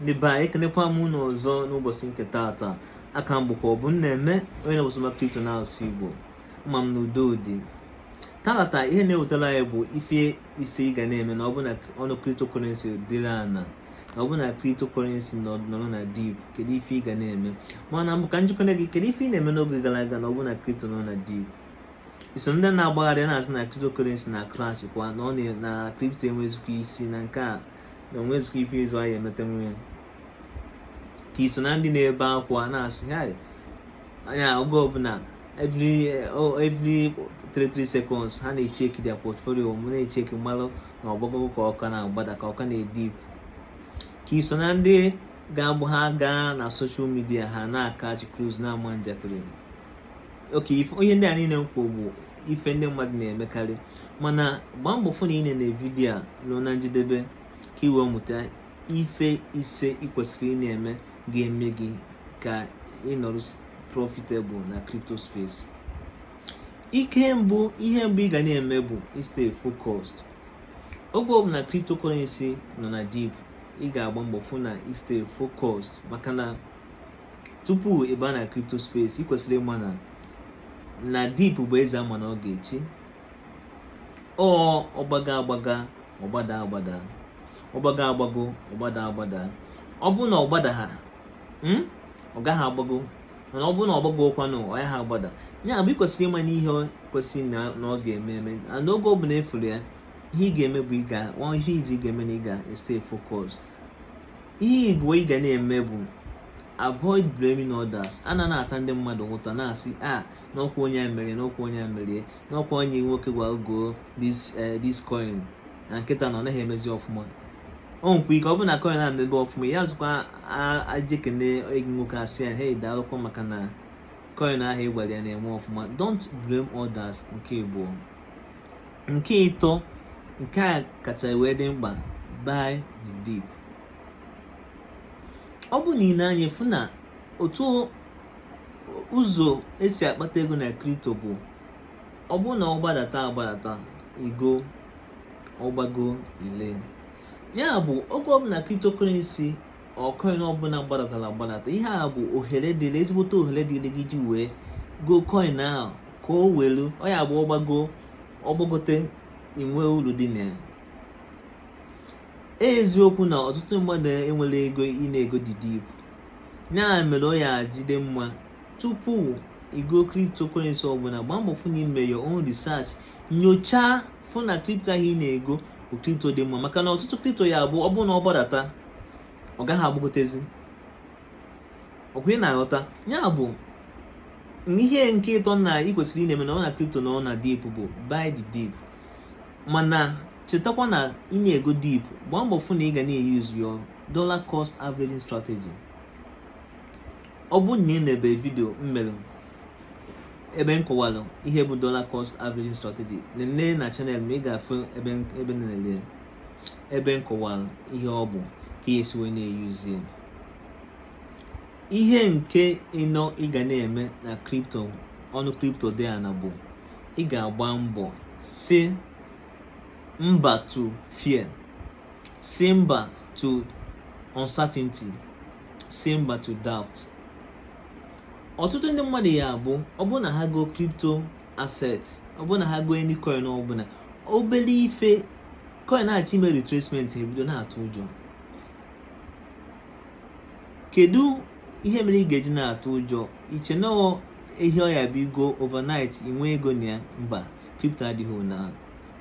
ndị be anyị ekenekwa m unu ọzọ n'ụbọchị nke taata aka m bụkwa Ọbụmneme onye na-ewụsị maka kripto n'asụsụ igbo ama m na udo dị taata ihe na-ewetara anyị bụ ife ise ị ga na-eme na ọ bụ na ọnụ kriptokorensi dịrị ana na ọ bụ na kriptokorensi nọrọ na dip kedu ife ị ga na-eme mana mbụ ka m jụkene gị kedu ife ị na-eme n'oge gara aga na ọ bụ na kripto nọ na dip i so na ndị na-agbagharị na-asị na cryptocurrency na crash kwa na ọ na crypto enwezikwa isi na nke a na onwezikwa ife ịzụ ahịa emeta nwunye ka i so na ndị na-ebe akwa na-asị ha anya oge ọbụla every oh, every 33 seconds ha na-echeki their portfolio na-echeki ịmalụ ma ọ gbago ka ọ ka na-agbada ka ọ ka na-edip ka i so na ndị ga-abụ ha gaa na soshal midia ha na-akachi cruise na-ama njakịrị okay ihe ndị a niile m kwuo bụ ife ndị mmadụ na-emekarị mana gbaa mbọ fụ na ị na-ene vidiyo a ruo na njedebe ka i wee mụta ife ise ị kwesịrị ị na-eme ga-eme gị ka ị nọrọ profitable na crypto space nke mbụ ihe mbụ ị ga na-eme bụ stay focused oge ọbụla cryptocurrency nọ na dip ị ga-agba mbọ fụ na ị stay focused maka na tupu ịba na crypto space ị kwesịrị ịma na na dip bụ eze ama na ọ ga-echi ọ gbago agbago ọ gbada agbada ọ gbago agbago ọ gbada agbada ọ bụ na ọ gbadaha hmm, ọ gaghị agbago mana ọ bụrụ na ọ gbago kwanụ ọ yaha agbada ya bụ ị kwesịrị ịma na ihe kwesịrị na ọ ga-eme eme na oge ọ bụla ị fụrụ ya ihe ị ga-eme bụ ịga ihe izizi ị ga-eme na ị ga stay focus ihe ịbụọ ị ga na-eme bụ avoid blaming others a na na-ata ndị mmadụ ụta na-asị a ah, na ọ kwa onye a mere na ọ kwa onye a mere na ọ kwa onye nwoke gwa m go this eh, this coin na kịta na ọ naghị emezi ọfụma o nwekwa ike ọ bụ na coin a mebe ọfụma ị yazikwa eje kene nwoke a sị ya hey daalụkwa maka na coin ahụ ị gwara ya na-eme ọfụma don't blame others nke ịbụọ nke ịtọ nke a kacha wee dị mkpa buy the dip ọ bụ na ị nee anya ị fụ na otu ụzọ e si akpata ego na kripto bụ ọ bụ na ọ gbadata agbadata i go ọ gbago i lee ya bụ oge ọbụla kriptokurensi or coin ọbụla gbadatara agbadata ihe a bụ ohere dịrị ezigbote ohere dịrị gị ji wee go coin ahụ ka o welu ọ ya bụ ọ gbago ọ gbagote i nwee uru dị na ya e eziokwu na ọtụtụ mmadụ enwerọ ego ị na-ego the dip ọ bụ ya mere o ji adị mma tupu igo cryptocurrency ọbụla gbaa mbọ fụ na i me your own research nyochaa fụ na kripto ahụ ị na-ego bụ kripto dị mma maka na ọtụtụ kripto ya bụ ọ bụrụ na ọ gbadata ọ gaghị agbagotezi ọkwa ị na-aghọta ya bụ ihe nke ịtọ na ị kwesịrị ịna-eme na ọ na kripto nọ na dip bụ buy the dip mana chetakwa na ị na-ego dip gbaa mbọ fụ na ị ga na-eyuzu your dollar cost averaging strategy ọ bụ na ị nebe vidio m mere ebe m kọwara ihe bụ dollar cost averaging strategy nene na chanel m ị ga-afụ ebe ebe nlele ebe m kọwara ihe ọ bụ ka ị ya-esi wee na-eyuzie ihe nke ịnọ ị ga na-eme na kripto ọnụ kripto dị ana bụ ị ga-agba mbọ sị mba to fear Sị mba to uncertainty. Sị mba to doubt. Ọtụtụ ndị mmadụ ya bụ ọ bụrụ na ha go crypto asset ọ bụrụ na ha go any coin ọ bụla obere ife coin na-achọ ime retracement ebido na-atụ ụjọ kedu ihe mere ị ga-eji na-atụ ụjọ i che na ihe ọ ya-abụ i go overnight i nwe ego na ya mba crypto adịghị ụdị ahụ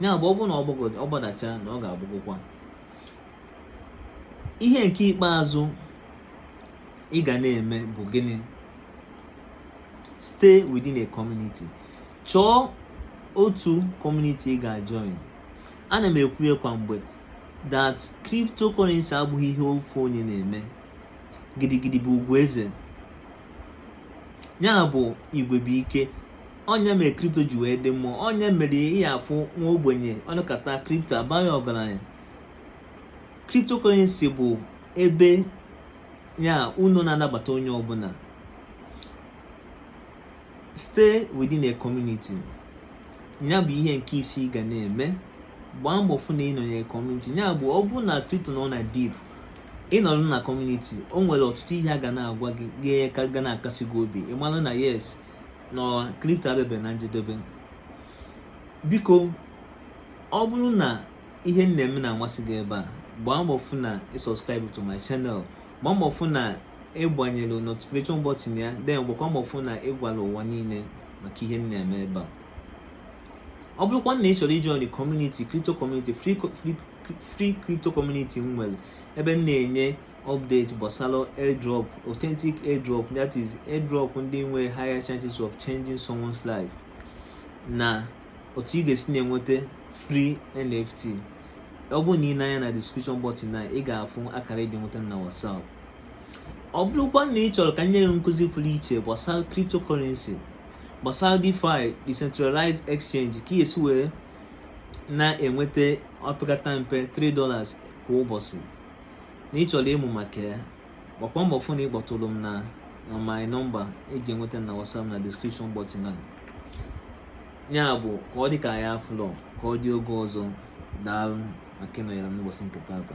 ya bụ ọ bụrụ na ọ gbadacha na ọ ga-agbagokwa ihe nke ikpeazụ ị ga na-eme bụ gịnị stay within a community chọọ otu community ị ga-join ana m ekwu ya kwa mgbe that cryptocurrency abụghị ihe ofu onye na-eme gidigidi bụ ugwu eze ya bụ igwe bụ ike ọ ya mere kripto ji wee dị mmụọ ọ ya mere ị ya-afụ nwa ogbenye ọ nọkata kripto abanye ọgaranya cryptocurrency bụ ebe ya unu na-anabata onye ọbụla stay within a community ya bụ ihe nke ise ị ga na-eme gbaa mbọ fụ na ị nọnyere kọmuniti ya bụ ọ bụrụ na kripto nọ na dip ị nọrọ na kọmuniti o nwere ọtụtụ ihe a ga na-agwa gị ga-enye aka ga na-akasi gị obi ị malụ na yes na kripto abịabe na njedebe biko ọ bụrụ na ihe m na-eme na-amasị gị ebe a gbaa mbọ fụ na ị subscribe to my channel gbaa mbọ fụ na ị gbanyelụ notification button ya then gbakwa mbọ fụ na ị gwala ụwa niile maka ihe m na-eme ebe a ọ bụrụkwa na ị chọrọ ịjoin kọmuniti kripto kọmuniti free crypto community m nwere ebe m na-enye update gbasara airdrop authentic airdrop that is airdrop ndị nwe higher chances of changing someone's life na otu ị ga-esi na-enweta free nft ọ bụrụ na ị nee anya na description button na ị ga-afụ akara eji enweta m na whatsapp ọ bụrụkwa na ị chọrọ ka m nye gị nkụzi pụrụ iche gbasara cryptocurrency gbasara DeFi decentralized exchange ka ị ga-esi wee na-enweta opekata mpe 3 dollars kwa ụbọsị na ị chọrọ ịmụ maka ya gbakwa mbọ fụ na ị kpọtụrụ m na na my number eji enweta m na WhatsApp na description button a ya bụ ka ọ dị ka ya afụlọ ka ọ dị oge ọzọ daalụ maka ịnọnyere m n'ụbọsị nke taata